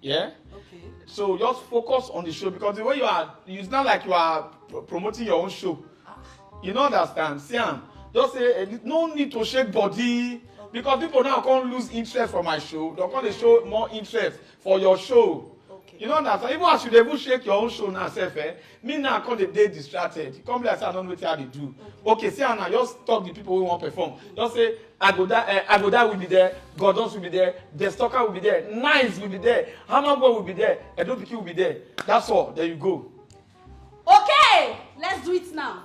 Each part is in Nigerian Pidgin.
Yeah. Okay. So just focus on the show because the way you are, it's not like you are promoting your own show. Ah. You don't understand, Siam. Just say eh, no need to shake body because people now can't lose interest for my show. They're going to show more interest for your show. Okay. You know that. Even as you dey even shake your own show now, self, eh, me now come dey dey distracted e come be like say i no know wetin i dey do okay see am now just talk the people wey wan perform just say agoda uh, eh, agoda will be there gordons will be there destocker will be there nice will be there hammer boy will be there edopiki will be there that's all there you go. okay let's do it now.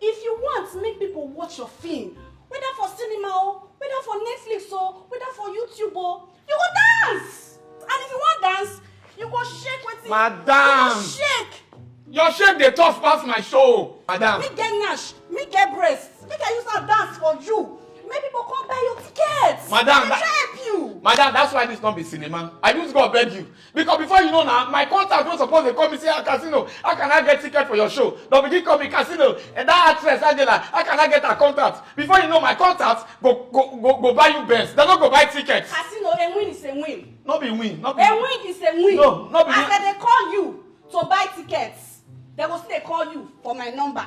If you want make people watch your film, whether for cinema o, whether for Netflix o, whether for YouTube o, you go dance! And if you want dance, you go shake wetin? Madam! You go shake! Your shake dey tough pass my show, madam. Me get nash, me get breast, make I use am dance for you. Make people come buy your tickets. Madam, make I help you. Madam, that's why this not be cinema. I use God beg you. because before you know na my contact wey suppose dey call me say ah casino how can i get ticket for your show don begin call me casino and that actress angela how can i get her contact before you know my contact go go go go buy you benz dem no go buy ticket. casino a win is a win. no be win no be win. a win is a win. no no be win. as dem dey call you to buy tickets dem go still dey call you for my number.